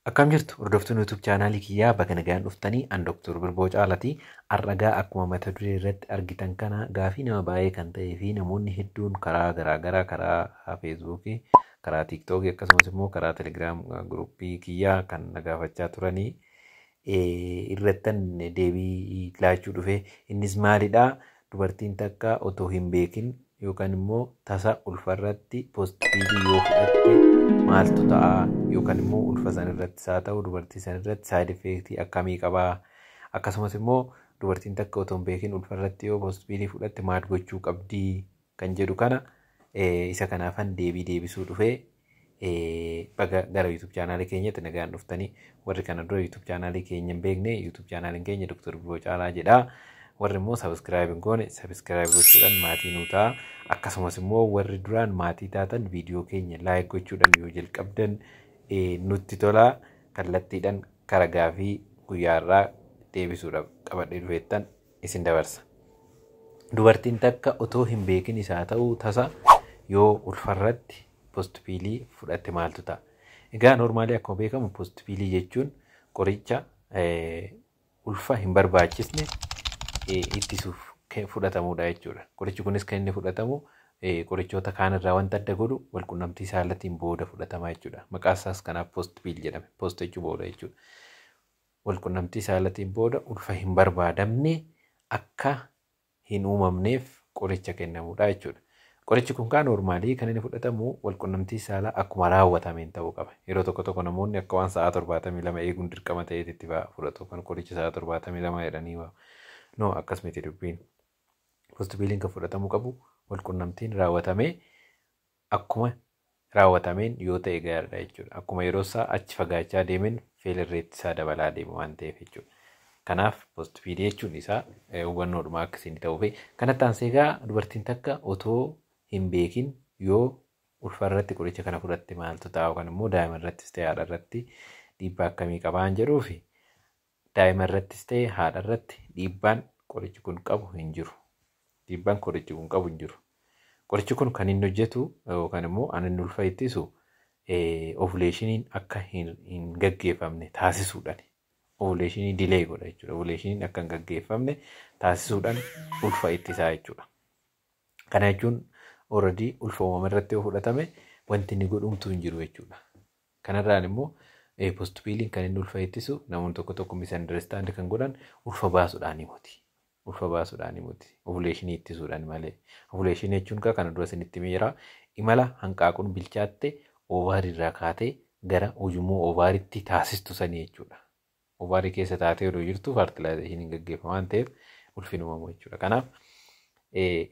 Akkam jirtu hordoftoonni YouTube chaanaalii kiyyaa baga nagaan dhuftanii an Dr. Birboo Caalatii arragaa akkuma mata duree irratti argitan kana gaafii nama baay'ee kan ta'ee fi namoonni hedduun karaa garaagaraa karaa feesbuukii karaa tiiktookii akkasumas immoo karaa telegiraam guruppii kiyyaa kan na gaafachaa turanii irrattan deebii laachuu dhufe. Innis maalidha? Dubartiin takka otoo hin beekin yookaan immoo tasa ulfa irratti poozitiivii yoo fudhatte maaltu ta'a? Yookaan immoo ulfa san irratti isaa ta'u dubartii san irratti saayid effeektii akkamii qaba? Akkasumas immoo dubartiin takka otoo hin beekin ulfa irratti yoo poozitiivii fudhatte maal gochuu qabdi? kan jedhu kana isa kanaafan deebii deebisuu dhufe baga gara YouTube chaanaalii keenyatti nagaan dhuftanii warri kana dura YouTube chaanaalii keenya hin beekne YouTube chaanaaliin keenya Dr. Biroo Caalaa jedha. Warri immoo sabiskiraayib hin goone sabiskiraayib gochuudhaan maatii nuu ta'a. Akkasumas immoo warri duraan maatii taatan viidiyoo keenya laayik gochuudhaan yoo jalqabdan nutti tola kallattiidhaan karaa gaafii guyyaa irraa deebisuudhaaf qabadhee dhufeettan isin dabarsa. Dubartiin takka otoo hin beekinis haa ta'u tasa yoo ulfarratti postpiilii fudhatte maaltu ta'a? Egaa normaalii akkuma beekamu postpiilii jechuun qoricha ulfa hin barbaachisne ittisuuf fudhatamudha jechuudha. Qorichi kunis kan inni fudhatamu qorichoota kaan irraa wanta adda godhu walqunnamtii saalatiin booda fudhatama jechuudha. Maqaan isaas kanaaf post piil jedhame. Post jechuun booda jechuudha. walqunnamtii saalatiin booda ulfa hin barbaadamne akka hin uumamneef qoricha kennamudha jechuudha. Qorichi kun kaa noormaalii kan inni fudhatamu walqunnamtii saalaa akkuma raawwatameen ta'uu qaba. Yeroo tokko tokko namoonni akka waan sa'aa 72 eeguun dirqama ta'eeti itti ba'a fudhatu. Kan qoricha sa'aa 72 jedhanii waa. No akkas miti dubbiin. Postipiiliin kan fudhatamuu qabu walqunnamtiin raawwatamee akkuma raawwatameen yoo ta'e gaariidha jechuudha. Akkuma yeroonsaa achi fagaachaa deemeen failure rate isaa dabalaa deema waan ta'eef jechuudha. Kanaaf post feed jechuun isaa eh, hubannoodhuma akka isin ta'uufi. Kanatti aansee egaa dubartiin takka otoo hin beekin yoo ulfa irratti qoricha kana fudhatte maaltu ta'a yookaan immoo daa'ima irrattis ta'e haadha irratti dhiibbaa akkamii qabaan jedhuufi Daa'ima irrattis ta'e haadha irratti dhiibbaan qorichi kun qabu hin jiru. Dhiibbaan qorichi kun qabu hin jiru. Qorichi kun kan inni hojjetu yookaan immoo an inni ulfa ittisu ovuleeshiniin akka hin gaggeeffamne taasisuudhaan ovuleeshinii dilee godha jechuudha. Ovuleeshiniin akka hin gaggeeffamne taasisuudhaan ulfa ittisaa jechuudha. Kana jechuun ooradii ulfa uumame irratti yoo fudhatame wanti inni godhumtuu hin jiru jechuudha. Kanarraan immoo post piiliin kan inni ulfa ittisu namoonni tokko tokko misunderstand kan godhan ulfa baasuudhaanii moti. Ulfa baasuudhaanii moti. Ovuleeshinii ittisuudhaan malee. Ovuleeshinii jechuun kaa kana dura isinitti miira imala hanqaaquun bilchaatte oovaarii irraa kaatee gara ujummoo oovaaritti taasistu sanii jechuudha. ovaarii keessa taatee odoo jirtu faartilaayizeshiniin gaggeeffa waan ta'eef ulfin uumamu jechuudha. Kanaaf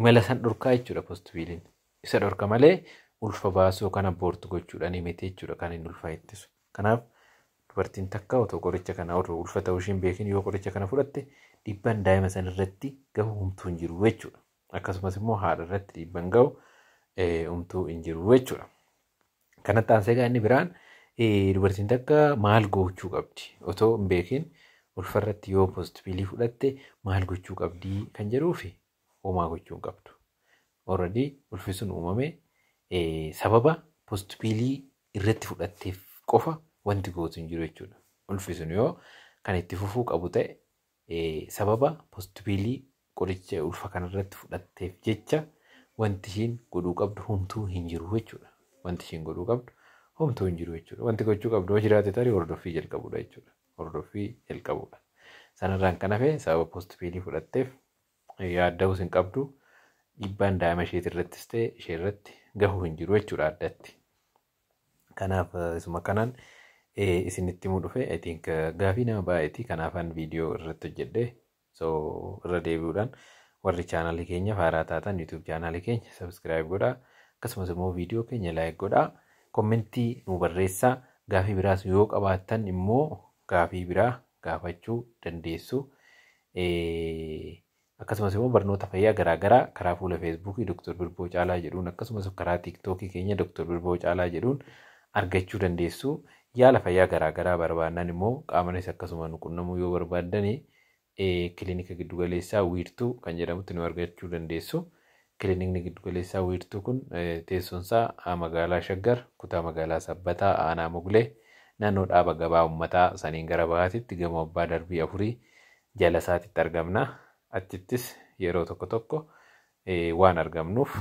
imala san dhorkaa jechuudha postipiiliin. Isa dhorka malee ulfa baasuu yookaan abboortu gochuudhaan miti jechuudha kan hin ulfaa ittisu. Kanaaf dubartiin takka otoo qoricha kana otoo ulfa ta'uu isheen beekin yoo qoricha kana fudhatte dhiibbaan daa'ima san irratti gahu humtuu hin jiru jechuudha. Akkasumas immoo haadha irratti dhiibbaan gahu humtuu hin jiru jechuudha. Kanatti aansee egaa inni biraan eh, dubartiin takka maal gochuu qabdi otoo hin beekin ulfarratti yoo poozitiviilii fudhatte maal gochuu qabdi kan jedhuufi homaa gochuu hin qabdu. Already ulfi sun uumame eh, sababa poozitiviilii irratti fudhatteef qofa wanti gootu hin jiru jechuudha. Ulfi sun yoo kan itti fufuu qabu ta'e Sababa Postpiilii qoricha ulfa kanarratti fudhatteef jecha wanti ishiin godhuu qabdu homtuu hin jiru jechuudha. Wanti ishiin godhuu qabdu homtuu hin jiru jechuudha. Wanti gochuu qabdu yoo jiraate tarii hordoffii jalqabuudha jechuudha. Hordoffii jalqabuudha. Sanarraan kan hafe sababa postpiilii fudhatteef yaadda'uus hin qabdu. Dhiibbaan daa'ima isheetirrattis ta'e isheerratti gahuu hin jiru jechuudha addatti. Kanaaf isuma kanaan isinitti himuu dhufe I think gaafii nama baay'eeti kanaafan viidiyoo irratti hojjedhe so irra deebi'uudhaan warri chaanaalii keenya haaraa taatan YouTube chaanaalii keenya subscribe godhaa akkasumas immoo viidiyoo keenya like godhaa kommentii nu barreessaa gaafii biraas yoo qabaattan immoo gaafii biraa gaafachuu dandeessu. Akkasumas immoo barnoota fayyaa garaa garaa karaa fuula Feesbuukii Doktor Birboo Caalaa jedhuun akkasumas karaa Tiiktookii keenya Doktor Birboo Caalaa jedhuun argachuu dandeessu. Yaala fayyaa garaa garaa barbaannaan immoo qaamanis akkasuma nu qunnamuu yoo barbaaddan Kilinika Giddu Galeessaa Wiirtuu kan jedhamutti nu argachuu dandeessu. Kilinikni Giddu Galeessaa Wiirtuu kun teessoon isaa magaalaa Shaggar, kutaa magaalaa Sabbataa, aanaa Moglee, naannoo dhaaba gabaa ummataa saniin gara bahaatitti gamoo abbaa darbii afurii Jala isaatitti argamna. Achittis yeroo tokko tokko waan argamnuuf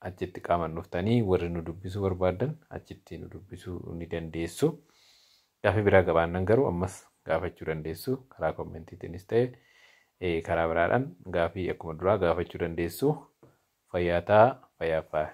achitti qaaman dhuftanii warri nu dubbisuu barbaaddan achitti nu dubbisuu ni dandeessu. Gaaffii biraa qabaannan garuu ammas gaafachuu dandeessu. Karaa kommentiitiinis ta'e karaa biraadhaan gaaffii akkuma duraa gaafachuu dandeessu. Fayyaa ta'aa, fayyaaf faaya.